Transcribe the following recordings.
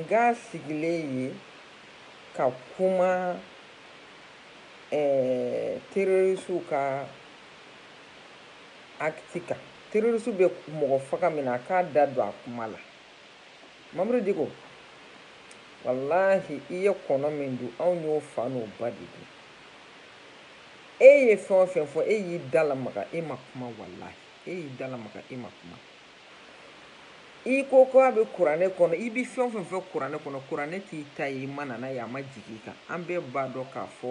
Nka sigilen ye ka kuma terrorisiw ka acte kan terrorisiw bɛ mɔgɔ faga min na a k'a da don a kuma la Mamudu Diko walahi i ye kɔnɔ min dun anw y'o fa n'o ba de dun e ye fɛn o fɛn fɔ e y'i da lamaga e ma kuma walahi e y'i da lamaga e ma kuma i ko ko a bɛ kuranɛ kɔnɔ i bɛ fɛn o fɛn fɔ kuranɛ kɔnɔ kuranɛ t'i ta ye i ma na n'a ye a ma jigin i kan an bɛɛ b'a dɔn k'a fɔ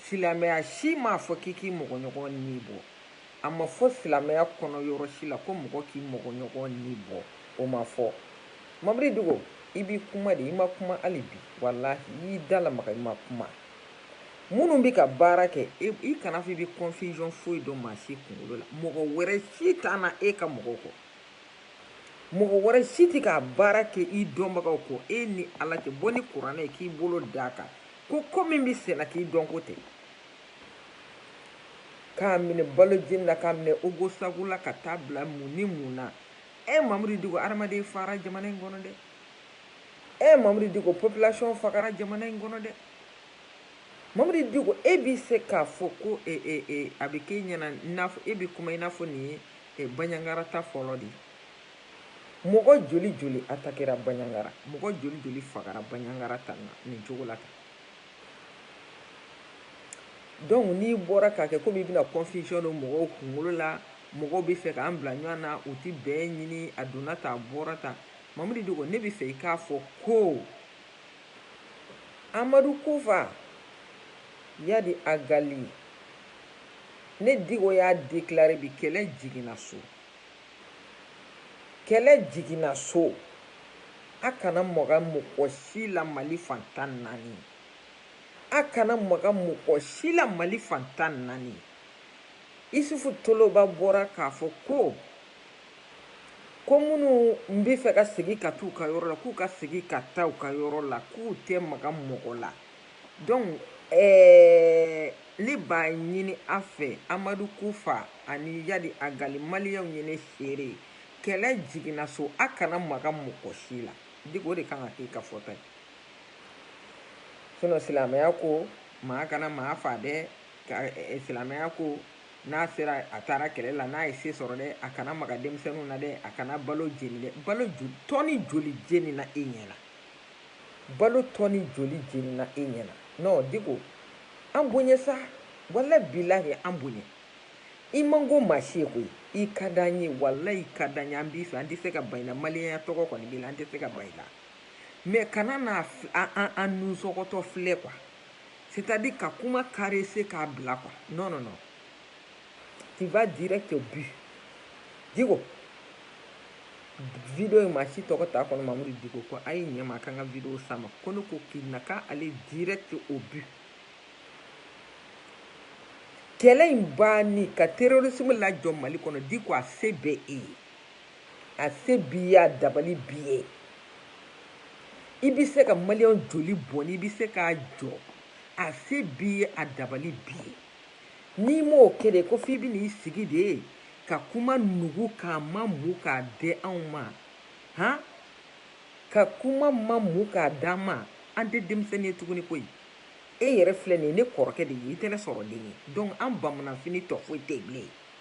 silamɛya si m'a fɔ k'i k'i mɔgɔɲɔgɔn ni bɔ a ma fɔ silamɛya kɔnɔ yɔrɔ si la ko mɔgɔ k'i mɔgɔɲɔgɔn ni bɔ o ma fɔ mamudu diko i bɛ kuma de i ma kuma hali bi walahi i y'i da lamaga i ma kuma minnu bɛ ka baara kɛ i kana fɔ i bɛ confusion foyi don maa si kunkolo la mɔgɔ wɛrɛ si t'a na e ka mɔgɔw kɔ mɔgɔ wɛrɛ si tɛ k'a baara kɛ i dɔnbagaw kɔ e ni ala tɛ bɔ ni kuranɛ ye k'i bolo d'a kan ko ko min bɛ senna k'i dɔnko tɛ k'a minɛ balo jeni na k'a minɛ ogosagu la ka taa bila mun ni mun na ɛ mamudu diko adamaden fara jamana in kɔnɔ dɛ ɛ mamudu diko population fagara jamana in kɔnɔ dɛ mamudu diko e bɛ se k'a fɔ ko e, e, e, a bɛ k'e ɲɛna n'a fɔ e bɛ kuma i n'a fɔ nin ye e, baɲangara ta fɔlɔ de ye mɔgɔ joli joli atakera baɲangara mɔgɔ joli joli fagara baɲangara ta na nin cogo la tan donc n'i bɔra k'a kɛ komi i bɛna confusion don mɔgɔw kunkolo la mɔgɔw bɛ fɛ k'an bila ɲɔgɔn na u tɛ bɛn ɲini a donna tan a bɔra tan Mamudu Diko ne bɛ fɛ i k'a fɔ ko Amadu Kufa Yadi Agali ne Diko y'a déclarer bi kɛlɛ jiginna so kɛlɛ jiginna so a kana maga mɔgɔ si la Mali fan tan ni naani a kana maga mɔgɔ si la Mali fan tan ni naani Isufu Toloba bɔra k'a fɔ ko ko minnu bɛ fɛ ka segin ka taa u ka yɔrɔ la k'u ka segin ka taa u ka yɔrɔ la k'u tɛ maga mɔgɔ la donc ɛɛ ne b'a ɲini a fɛ amadu kufa ani yadi agali maliyɛnw ye ne seere ye kɛlɛ jiginna so a kana maga mɔgɔ si la diko o de kan ka k'i ka fɔta ye sinɔn silamɛya ko maa kana maa fa dɛ silamɛya ko n'a sera a taara kɛlɛ la n'a ye se sɔrɔ dɛ a kana maga denmisɛnninw na dɛ a kana balo jeni dɛ balo tɔni joli jenina e ɲɛ na balo tɔni joli jenina e ɲɛ na non diko an bonya sa wala bilahi an bonya i man ko maa si ye koyi i ka d'an ye walahi i ka d'an ye an b'i fɛ an tɛ se ka ban i la maliyɛnya tɔgɔ kɔni b'i la an tɛ se ka ban i la mɛ kana na an nusɔgɔtɔ filɛ kuwa C'est à dire ka kuma caresser k'a bila quoi. Non non non. Tu vas direct au but. Diko. Video in maa si tɔgɔ t'a kɔnɔ Mamudu Diko kɔ a ye ɲɛ ma a ka n ka video s'a ma ko ne ko k'i na ka aller direct au but. Kɛlɛ in banni ka terrorisme lajɔ Mali kɔnɔ Diko a se bɛ e ye. A se b'i ye a dabali b'i ye i bɛ se ka maliyɛn joli bɔnni i bɛ se k'a jɔ a se b'i ye a dabali b'i ye n'i m'o kɛ de ko f'i bɛ n'i sigi de ka kuma nugu k'a mamu k'a di anw ma han ka kuma mamu k'a d'an ma an tɛ denmisɛnnin ye tuguni koyi e yɛrɛ filɛ nin ye ne kɔrɔkɛ de ye i tɛ ne sɔrɔ den ye donc an bamananfini tɔ foyi tɛ yen bilen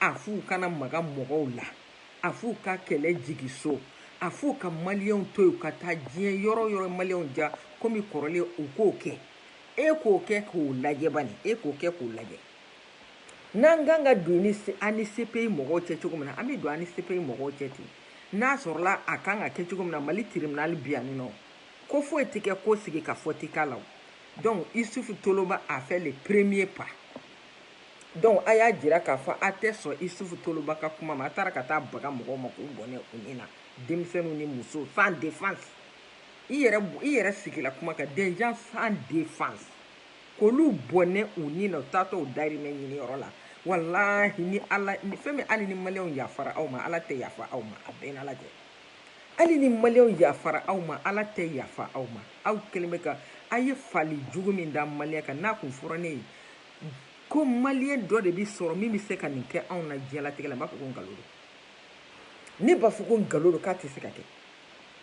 A f'u kana maga mɔgɔw la, a f'u ka kɛlɛ jigi so, a f'u ka maliyɛnw to yen u ka taa diɲɛ yɔrɔ o yɔrɔ maliyɛnw diya komi kɔrɔlen u k'o kɛ. E k'o kɛ k'o lajɛ bani, e k'o kɛ k'o lajɛ. N'an kan ka don a ni CPI mɔgɔw cɛ cogo min na, an bɛ don a ni CPI mɔgɔw cɛ ten. N'a sɔrɔla a kan ka kɛ cogo min na Mali tribunal bi yan ninɔ, ko foyi tɛ kɛ ko sigikafɔ tɛ k'a la o. Donc Issoufou Toloba a fait le premier pas. donc a y'a jira k'a fɔ a tɛ sɔn isufu toloba ka kuma ma a taara ka taa baga mɔgɔw ma k'u bɔnɛ u ni na denmisɛnninw ni musow sans défense i yɛrɛ sigila kuma kan des gens sans défense k'olu bɔnɛ u ni na u taatɔ u dahirimɛ ɲiniyɔrɔ la walahi ni ala ni fɛn min hali ni maliyɛnw yafara aw ma ala tɛ yafa aw ma a bɛ n n'ala cɛ hali ni maliyɛnw yafara aw ma ala tɛ yafa aw ma aw kɛlen bɛ ka a ye faali jugu min da maliyɛn kan n'a kun fɔra ne ye ko maliyɛn dɔ de bi sɔrɔ min bɛ se ka nin kɛ anw na diɲɛlatigɛ la n b'a fɔ ko nkalon don ne b'a fɔ ko nkalon don k'a tɛ se ka kɛ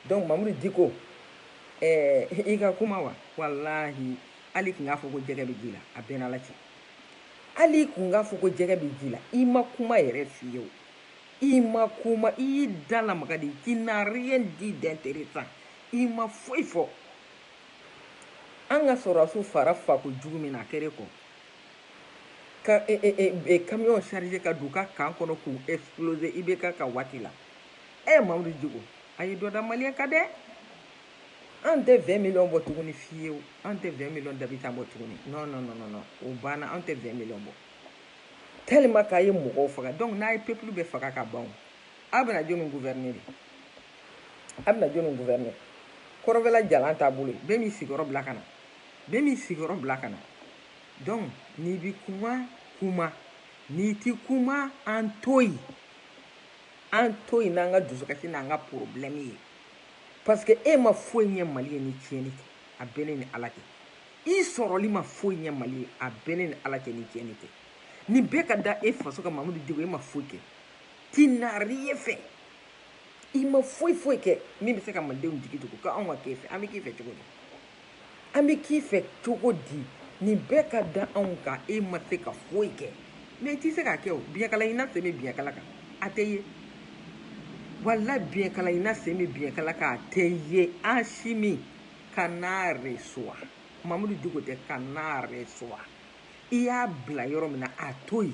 donc mamudu diko eh, i ka kuma wa walahi hali i kun k'a fɔ ko jɛgɛ bɛ ji la a bɛ n n'ala cɛ hali i kun k'a fɔ ko jɛgɛ bɛ ji la i ma kuma yɛrɛ fiyewu i ma kuma i y'i da lamaga de tu n'as rien dit d'intéressant i ma foyi fɔ an ka sɔrɔdasiw fara fako jugu min na a kɛra Gao ka e, e, e, e, camion charger ka don u ka camp kɔnɔ k'u exploser IBK ka waati la ɛ eh, Mamudu Diko a ye dɔ da maliyɛn kan dɛ an tɛ 20 millions bɔ tuguni fiyewu an tɛ 20 millions d'habitants bɔ tuguni non non non non o banna an tɛ 20 millions bɔ tellement k'a ye mɔgɔw faga donc n'a ye peuple bɛɛ faga ka ban a bɛna jɔni gouverner de a bɛna jɔni gouverner kɔrɔbɛla jalan t'a bolo bɛɛ m'i sigiyɔrɔ bila ka na bɛɛ m'i sigiyɔrɔ bila ka na donc n'i bi kuma kuma n'i ti kuma an to yen an to yen n'an ka dusukasi n'an ka problème ye parce que e ma foyi ɲɛ mali ye ni tiɲɛni tɛ a bɛ ne ni ala cɛ i sɔrɔli ma foyi ɲɛ mali ye a bɛ ne ni ala cɛ ni tiɲɛni tɛ nin bɛɛ ka da e faso kan mamudu diko e ma foyi kɛ tu n'as rien fait i ma foyi foyi kɛ min bɛ se ka malidenw jigi tugu ko anw ka k'e fɛ an bɛ k'i fɛ cogo di an bɛ k'i fɛ cogo di nin bɛɛ ka da anw kan e ma se ka foyi kɛ mais i ti se k'a kɛ o biɲɛkala ɲinina sen bɛ biɲɛkala kan a tɛ ye wala biɲɛkala ɲinina sen bɛ biɲɛkala kan a tɛ ye Asimi kan'a recevoir mamudu Diko tɛ kan'a recevoir i y'a bila yɔrɔ min na a to yen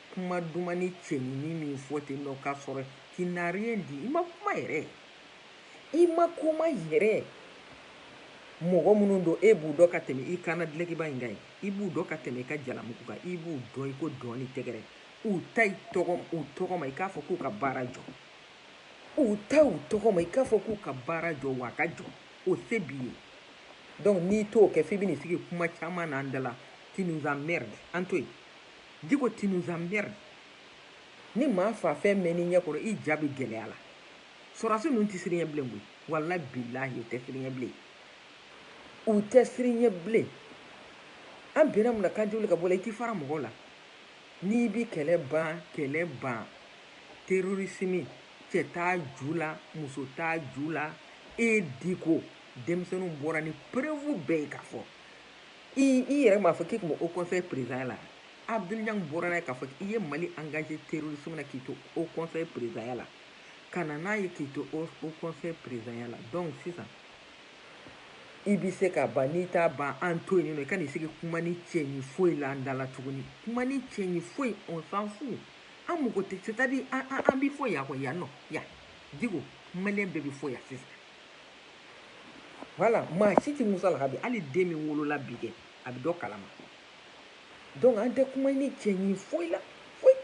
Kuma dumannin cɛɲinin min fɔ ten nɔ k'a sɔrɔ tu n'as rien dit i ma kuma yɛrɛ i ma kuma yɛrɛ mɔgɔ minnu don e b'u dɔn ka tɛmɛ i kan na dulɔkiba in kan ye i b'u dɔn ka tɛmɛ i ka jalamugu kan i b'u dɔn i ko dɔn ni tɛgɛrɛ u ta i tɔgɔ u tɔgɔ ma i k'a fɔ k'u ka baara jɔ u ta u tɔgɔ ma i k'a fɔ k'u ka baara jɔ wa a ka jɔ o se b'i ye donc n'i t'o kɛ f'i bɛn'i sigi kuma caman na an da la tu nous emmerdes an to yen Diko tu nous emmerdes. Ni maa fa fɛn mɛnn'i ɲɛ kɔrɔ i ja bɛ gɛlɛya la sɔrɔdasi ninnu tɛ siran i ɲɛ bilen koyi wala bilahi u tɛ siran i ɲɛ bilen u tɛ siran i ɲɛ bilen an bɛnna mun na k'an tɛ wuli ka bɔ la i t'i fara mɔgɔw la n'i bi kɛlɛ ban kɛlɛ ban terorisimi cɛ t'a ju la muso t'a ju la e diko denmisɛnninw bɔra ni preuve bɛɛ ye k'a fɔ i i yɛrɛ m'a fɔ k'i tun bɛ Haut conseil présidentya la Abdul Niang bɔra n'a ye k'a fɔ i ye Mali engager terrorisme na k'i to Haut conseil présidentya la ka na n'a ye k'i to Haut conseil présidentya la donc sisan i bɛ se k'a ban n'i t'a ban an to yen nɔ i kan'i sigi kumanin cɛɲi foyi la an da la tuguni kumanin cɛɲi foyi on s'en fout an mago tɛ c'est à dire an an an bɛ fo yan kɔ yan nɔ yan Diko maliyɛn bɛɛ bɛ fo yan sisan voilà maa si tɛ musalaka bi hali den min wolola bi kɛ a bɛ dɔ kalama donc an tɛ kumanin cɛɲin foyi la foyi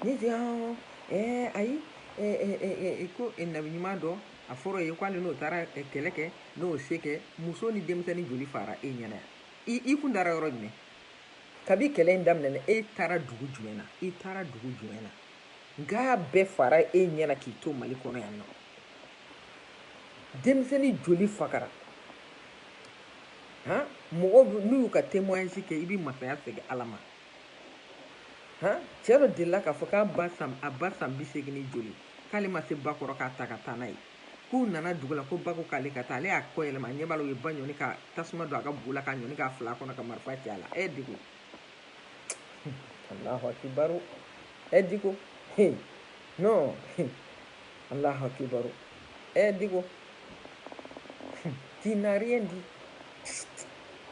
ne tɛ an ɛɛ ayi ɛɛ ko nabi ɲuman dɔ a fɔra ye k'ale n'o taara kɛlɛ kɛ n'o se kɛ muso ni denmisɛnnin joli faara e ɲɛna yan i kun taara yɔrɔ jumɛn kabi kɛlɛ in daminɛna e taara dugu jumɛn na i taara dugu jumɛn na nka bɛɛ faara e ɲɛna k'i to mali kɔnɔ yan nɔ denmisɛnni joli fagara han mɔgɔ minnu y'u ka témoignage kɛ i bɛ masaya segin ala ma han cɛ dɔ delila k'a fɔ k'a ba san a ba san bi seegin ni joli k'ale ma se ba kɔrɔ k'a ta ka taa n'a ye k'u nana dugu la ko ba ko k'ale ka taa ale y'a kɔ yɛlɛma a ɲɛ b'a la u ye ba ɲɔni ka tasuma don a ka bugu la k'a ɲɔni k'a fil'a kɔnɔ ka marifa ci a la ɛ diko Allahu akibaru ɛ diko he non Allahu akibaru ɛ diko tu n'as rien dit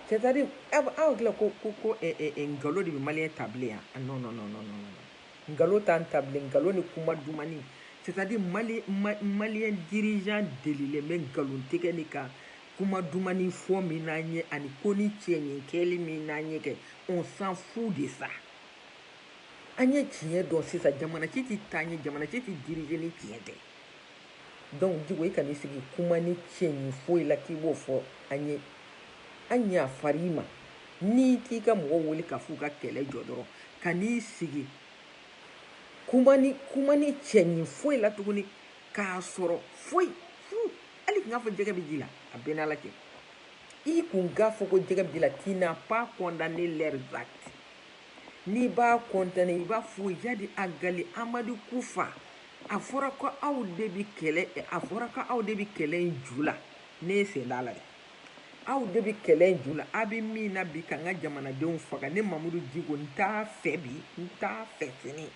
c'est à dire aw hakili la ko ko nkalon de bɛ maliyɛn ta bilen yan ah, non non non non non nkalon t'an ta bilen nkalon ni kuma dumani c'est à dire mali maliyɛn dirigeant delilen bɛ nkalon tigɛ ni ka Kuma dumani fɔ min n'an ye ani konin cɛɲin kɛli min n'an ye kɛ, on s'en fout de ça. An ye tiɲɛ dɔn sisan, jamana ci tɛ taa ɲɛ, jamana ci tɛ diriger ni tiɲɛ tɛ. Donc Diko, i kan'i sigi kumanin cɛɲin foyi la k'i b'o fɔ an ye. An ɲafar'i ma, n'i t'i ka mɔgɔw wele k'a f'u ka kɛlɛ jɔ dɔrɔn, kan'i sigi kumanin kumanin cɛɲin foyi la tuguni k'a sɔrɔ foyi, fuu! hali kun k'a fɔ jɛgɛ bɛ ji la a b'e n'ala cɛ i kun k'a fɔ ko jɛgɛ bɛ ji la tu n'as pas condamné leurs actes n'i b'a condamné i b'a fɔ iyadi agali amadu kufa a fɔra ko aw de bɛ kɛlɛ a fɔra ko aw de bɛ kɛlɛ in ju la ne sen t'a la dɛ aw de bɛ kɛlɛ in ju la a bɛ min na bi ka n ka jamanadenw faga ne mamudu diko n t'a fɛ bi n t'a fɛ sini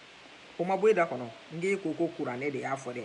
o ma bɔ e da kɔnɔ nk'e ko ko kuranɛ de y'a fɔ dɛ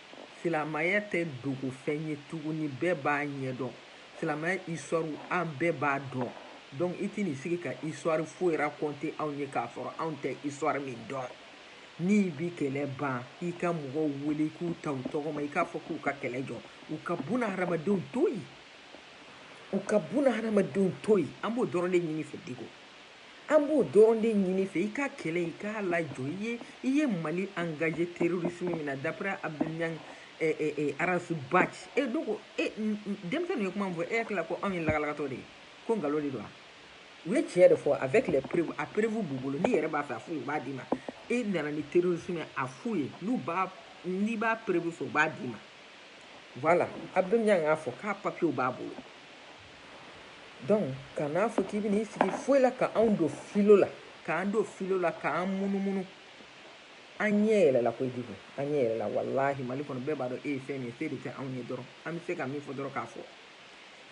Silamaya tɛ dogofɛn ye tuguni bɛɛ b'a ɲɛdɔn silamaya histoire an bɛɛ b'a dɔn donc i tɛn'i sigi ka histoire foyi raconter anw ye k'a sɔrɔ anw tɛ histoire min dɔn n'i bi kɛlɛ ban i ka mɔgɔw wele i k'u ta u tɔgɔ ma i k'a fɔ k'u ka kɛlɛ jɔ u ka buna hadamadenw to yen u ka buna hadamadenw to yen an b'o dɔrɔn de ɲin'i fɛ Diko An b'o dɔrɔn de ɲin'i fɛ i ka kɛlɛ i k'a lajɔ i ye i ye Mali engagé terrorisme min na d'après Abdel a Ras Bath donc denmisɛn ye kuma min fɔ e hakili la ko anw ye lagalagatɔ de ye ko nkalon de don wa u ye tiɲɛ de fɔ avec les preuves a preuve b'u bolo n'i yɛrɛ b'a fɛ a f'u ye u b'a d'i ma e nana ni terrorisme a f'u ye n'u b'a n'i b'a preuve fɛ u b'a d'i ma voilà Abdel y'a fɔ k'a papiyew b'a bolo donc kan'a fɔ k'i bɛna i sigi foyi la ka anw don filo la k'an don filo la k'an munumunu an ɲɛ yɛlɛla koyi Diko an ɲɛ yɛlɛla walahi mali kɔnɔ bɛɛ b'a dɔn e ye fɛn min ye se de tɛ anw ye dɔrɔn an bɛ se ka min fɔ dɔrɔn k'a fɔ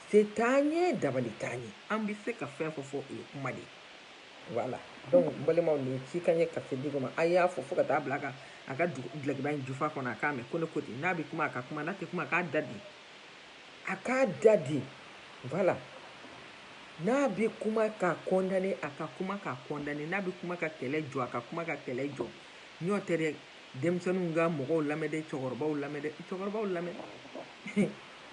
se t'an ye dabali t'an ye an bɛ se ka fɛn fɔ fɔ o ye kuma de ye voilà donc n balimaw nin ci ka ɲɛ ka se Diko ma a y'a fɔ fo ka taa bila a ka a ka dulokiba in jufa kɔnɔ a k'a mɛn ko ne ko ten n'a bɛ kuma a ka kuma n'a tɛ kuma k'a da de A k'a da de voilà n'a bɛ kuma k'a condamné a ka kuma k'a condamné n'a bɛ kuma ka kɛlɛ jɔ a ka kuma ka kɛlɛ jɔ n'o tɛ dɛ denmisɛnninw ka mɔgɔw lamɛn dɛ cɛkɔrɔbaw lamɛn cɛkɔrɔbaw lamɛn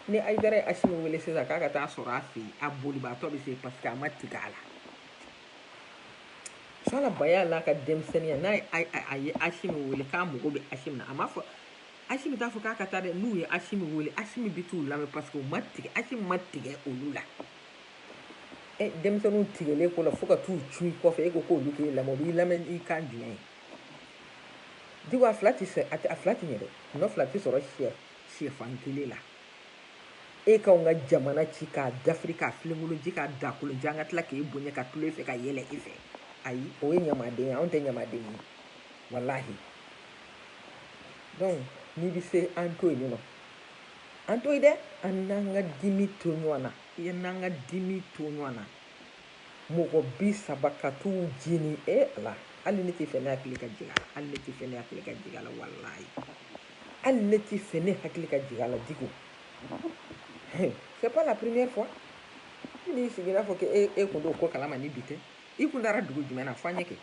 ni Ayidara ye Asimi wele sisan k'a ka taa sɔrɔ a fɛ a bolibaatɔ bɛ se parce que a ma tigɛ a la fa ba y'a la a ka denmisɛnninya n'a a ye Asimi wele k'a mago bɛ Asimi na a m'a fɔ Asimi t'a fɔ k'a ka taa dɛ n'u ye Asimi wele Asimi bɛ t'u lamɛn parce que u ma tigɛ Asimi ma tigɛ olu la ɛ denmisɛnninw tigɛlen ko la fo ka t'u cu i kɔfɛ e ko k'olu k'e lamɛn o b'i lamɛn i kan jumɛn ye Diko a fila tɛ sɛ a tɛ a fila tɛ ɲɛ dɛ nɔ fila tɛ sɔrɔ sɛ sɛfan kelen la e k'anw ka jamana ci k'a dafiri k'a filenkolon ci k'a dagakolon ci an ka tila k'e bonya ka tulon e fɛ ka yɛlɛ e fɛ ayi o ye ɲamaden ye anw tɛ ɲamaden ye walahi donc n'i bɛ se an to yen non an to yen dɛ an n'an ka dimi to ɲɔgɔn na i ye n'an ka dimi to ɲɔgɔn na mɔgɔ bi saba ka t'u jeni e eh, Ala hali ne t'a fɛ ne hakili ka jigin a la hali ne t'a fɛ ne hakili ka jigin a la walayi hali ne t'a fɛ ne hakili ka jigin a la Diko c'est pas la première fois n'i sigira fɔ k'e e kun t'o ko kalama ni bi tɛ i kun taara dugu jumɛn na fɔ an ye kɛ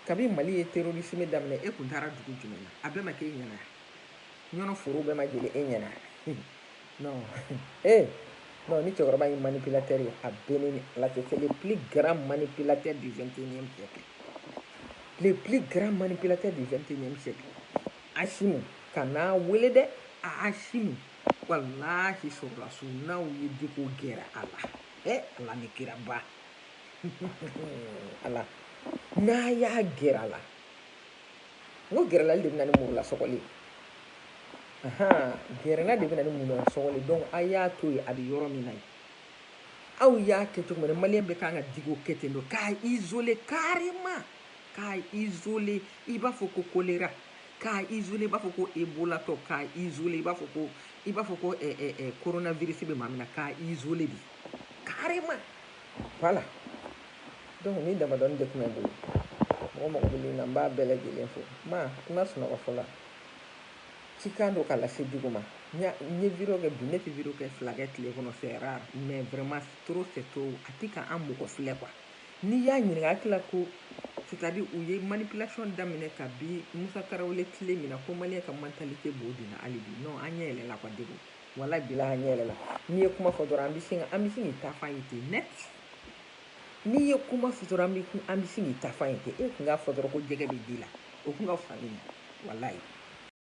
Kabi Mali ye terorisime daminɛ, e kun taara dugu jumɛn na? A bɛɛ ma k'e ɲɛna wa? Ɲɔnɔ forow bɛɛ ma jeni e ɲɛna wa? Non, ee, non, nin cɛkɔrɔba ye manipulateur ye, a bɛ ne ni Ala cɛ, c'est le plus grand manipulateur du 21 e siècle, le plus grand manipulateur du 21 e siècle, Asimi, kan'a wele dɛ, aa Asimi, walahi sɔrɔdasiw n'aw ye Diko gɛrɛ a la, ee Ala ni kira ba. ala n'a y'a gɛrɛ a la n ko gɛrɛlali de bɛ na ni murula sɔgɔli gɛrɛna de bɛ na ni murula sɔgɔli donc a y'a to yen a bɛ yɔrɔ min na yen aw y'a kɛ cogo min maliyɛn bɛɛ kan ka Diko kɛ ten don k'a izole carrément k'a izole i b'a fɔ ko kolera k'a izole i b'a fɔ ko ebolatɔ k'a izole i b'a fɔ ko i b'a fɔ ko koronavirisi bɛ maa min na k'a izole de carrément Voilà donc nin damadɔni de tun bɛ n bolo mɔgɔ mɔgɔ bɛ ligne na n b'a bɛɛ lajɛlen fo maa min ma sunɔgɔ fɔlɔ ci kan don k'a lase Diko ma n ye vidéo kɛ bi ne tɛ vidéo kɛ fila kɛ tile kɔnɔ c'est rare mais vraiment trop c'est trop a tɛ ka an mɔgɔ filɛ quoi n'i y'a ɲininka a tila ko c'est-à-dire u ye manipulation daminɛ kabi Musa Tarawele tile min na ko maliyɛn ka mentalité b'o de la hali bi non an ɲɛ yɛlɛla quoi Diko Walayi bilayi an ɲɛ yɛlɛla n'i ye kuma fɔ dɔrɔn an bɛ sin an bɛ sin k'i taafan ye ten net n'i ye kuma fɔ dɔrɔn an bɛ an bɛ sin k'i taafan ye ten e tun k'a fɔ dɔrɔn ko jɛgɛ bɛ ji la o tun ka fisa i ma walayi